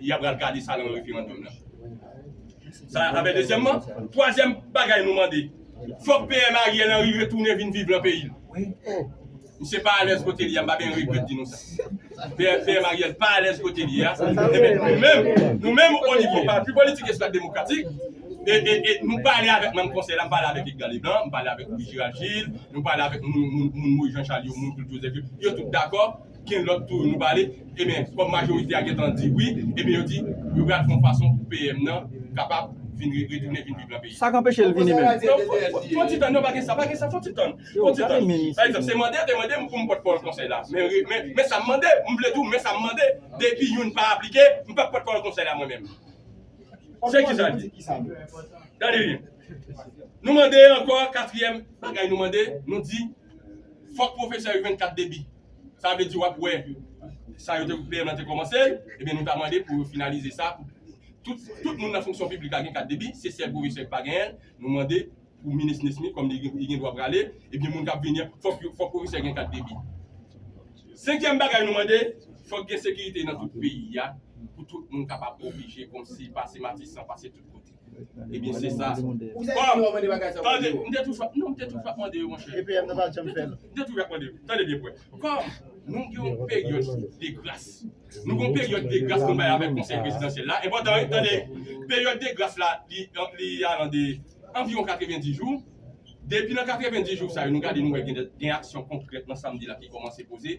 Y ap pral gade sa nan referandòm nan. Sa a bè dezyèmman. Twazyèm bagay nou mande, fòk PM Ariel Henry retounen vin viv lan peyi l. Misye pa alèz kote li a, m pa gen regrèt di nou sa. PM Ariel pa alèz kote li a. Enben, nou menm, nou menm o nivo Pati Politik Estat Demokratik, e, e, e, nou pale avèk manm Konsèy la, m pale avèk Edgar Leblanc, m pale avèk Louis Gérald Gilles, nou pale avèk moun, moun, moun Moïse Jean Charles yo, moun Claude Joseph yo, yo tout dakò gen lòt tou nou pale, eben kòm majorite a gentan di wi, eben yo di yo pral fè yon fason pou PM nan kapab vin retounen vin viv nan peyi. Sa k anpeche l vini menm? Fon ti tann, non pa gen sa, pa gen sa, fon ti tann, fon ti tann. Pa egzanp, se mande yo te mande m pou m pòt pawòl konsèy la, men men sa m mande, m vle di w men sa m mande, depi youn pa aplike, m p ap pòt pawòl konsèy la mwen menm. Se ki sa l di. Gade byen. Nou mande ankò katriyèm bagay nou mande, nou di. fòk pwofesè yo jwenn kat debi. Sa vle di w ap wè sa yo te PM lan te kòmanse, ebyen nou ta mande pou yo finalize sa pou tout tout moun nan fonksyon piblik la gen kat debi, se sèl pwofesè ki pa genyen l, nou mande pou minis Nesmy kòm li li gen dwa prale, ebyen moun k ap vini an fòk yo fòk pwofesè gen kat debi. Senkyèm bagay nou mande, fòk gen sekirite nan tout peyi a pou tout moun kapab oblije kòmsi pase Matisan, pase tout kote. Ebyen se sa. Tande, m te toujou ap non, m te toujou ap mande yo monchè. M te toujou ap mande yo. Tande byen pou wè. Kòm nou gen yon peryòd de gras. Nou gen yon peryòd de gras nou bay avèk konsèy prezidansyèl la. Enpòtan wi, tande. Peryòd de gras la li alan de anviwon 90 jou. Depi nan 90 jou sa yo nou gade nou wè gen aksyon konkrèt nan sa m di la ki kòmanse poze.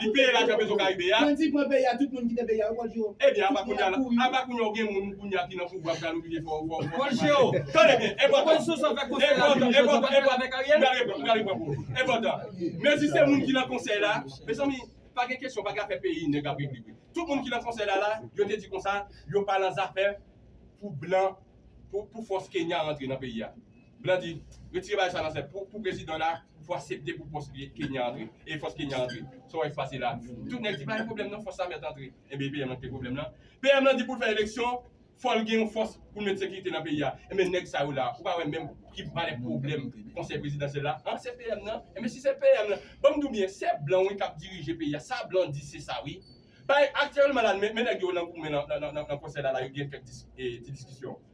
Li peye lajan pezo karibe a. Bandi pran peyi a tout moun kite peyi a yo bòdje yo. Ebyen apa kounya la apa kounya ou gen moun kounya ki nan pouvwa pral oblije fè w fè w bòdje yo. Tande byen enpòtan enpòtan enpòtan enpòtan pral reponn pral reponn pou ou enpòtan mezi se moun ki nan konsèy la mezanmi pa gen kesyon pa gen afè peyi nèg ap regle vre tout moun ki nan konsèy la la yo te di konsa yo pa nan zafè pou blan pou pou fòs kenya rantre nan peyi a Blandi, retire bagay sa nan sèp ou pou prezidan la pou asepte pou fòs Kenya antre e fòs Kenya antre sa w wè k pase la tout nèg di pa gen pwoblèm nan fòs sa mèt antre enben PM lan k te pwoblèm lan PM lan di pou l fè eleksyon fò l gen yon fòs pou l met sekirite nan peyi a enben nèg sa yo la ou pa wè menm ki valè pwoblèm konsèy prezidansyèl la an se PM nan enben si se PM lan ban m di w byen se blan wi k ap dirije peyi a sa blan di se sa wi bay aktyèlman la men nèg yo nan goumen nan konsèy la la yo gen kèk ti diskisyon.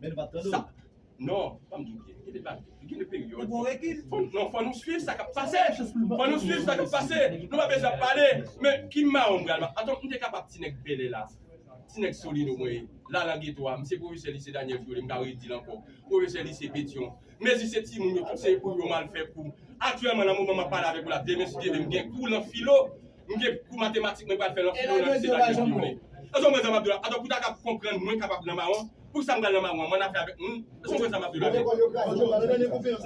Men nou pap tande w. Non, banm di w byen, gen de bagay, gen de peryòd. Fò nou swiv sa k ap pase. Fò nou swiv sa k ap pase. Nou pa bezwen ap pale. Men ki mawon m pral. Atò m te kapab ti nèg Bèlè la, ti nèg Solino mwen ye. Lalan Geto a, m se pwofesè lise Daniel Trele, m ka redi l ankò. Pwofesè lise Petyon. Mezi se timoun yo, tout se pou yo mal fè kou. Aktyèlman nan moman m ap pale avèk ou la, demen si Dye vle m gen kou lan filo. M gen kou matematik mwen pral fè lan filo nan lise Daniel Guillaume. Èske w konprann sa m ap di w la? Atò pou ta kab konprann mwen kapab lan mawon, pou sa m pral lan mawon an, m ann afè avèk moun. Èske w konprann sa m ap di w la byen?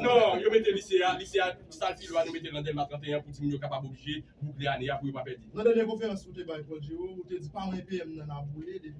Non, yo mete lise a, lise a, sal filo a nou mete l nan Dèlma 31 pou ti moun yo kapab oblije boukle ane a pou yo pa pèdi. Nan dènye konferans ou te bay Paul Giraud, ou te di pa mwen PM nan ap boule depi.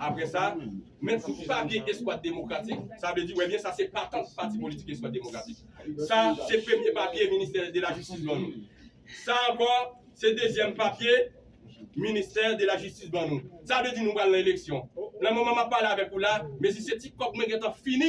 Apre sa, men sou papye Eskwad Demokratik, sa vle di wè byen sa se patant pati politik Eskwad Demokratik. Sa se premye papye Ministè de la Jistis ban nou. Sa ankò se dezyèm papye Ministè de la Jistis ban nou. Sa vle di nou pral nan eleksyon. Nan moman m ap pale avèk ou la, menm si se ti kòb mwen gentan fini,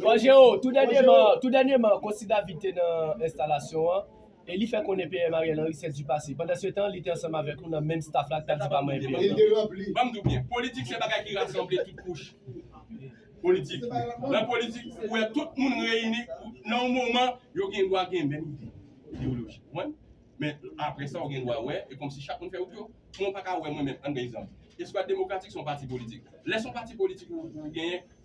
Bon Jero, tou dènyeman, Cossy David te nan enstalasyon an e li fè konnen PM Ariel Henry se du passé. Pandansetan, li te ansanm avèk nou nan menm staff la k t ap di pa manyen PM nan. Ban m di w byen, politik se bagay ki rasanble tout kouch politik. Nan politik, ou wè tout moun reyini nan yon moman, yo gen dwa gen menm ide ideyoloji, konprann? Men, apre sa, ou gen dwa wè, e kòmsi chak moun fè wout yo. Mwen pa ka wè mwen menm, ann pran egzanp, Eskwad Demokratik se yon pati politik. Lè se yon pati politik ou genyen,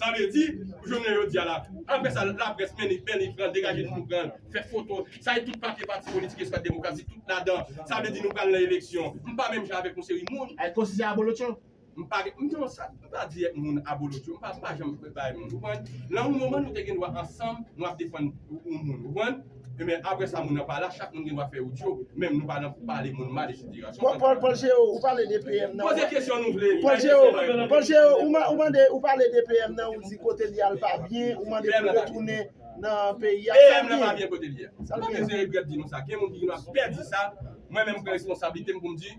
Sa vle di, pou jounen jodi a la, apre sa laprès mènni mènni pran degaje nou nou pran fè foto, sa e tout papye pati politik eswat demokrasi tout ladan, sa vle di nou pral nan eleksyon. M pa menm jan avèk yon seri moun. Ay konsi se abolotcho? M pa gen, m non sa, m pa di èt moun abolotcho, m pa m pa janm bay moun, ou konprann? Nan yon moman nou te gen dwa ansanm nou ap defann yon moun, ou konprann? Ebyen aprè sa moun nan pala chak moun gen dwa fè odyo menm nou pa nan pou pale moun mal etc. Bon bon bon Jero ou pale de PM nan Poze kesyon nou vle Bon Jero bon Jero ou man ou mande ou pale de PM nan ou di kote li al pa byen ou mande pou l retounen nan peyi a PM nan pa byen kote li ye Mwen bezwen egret di nou sa gen moun ki gen dwa pè di sa mwen menm m pran responsablite m pou m di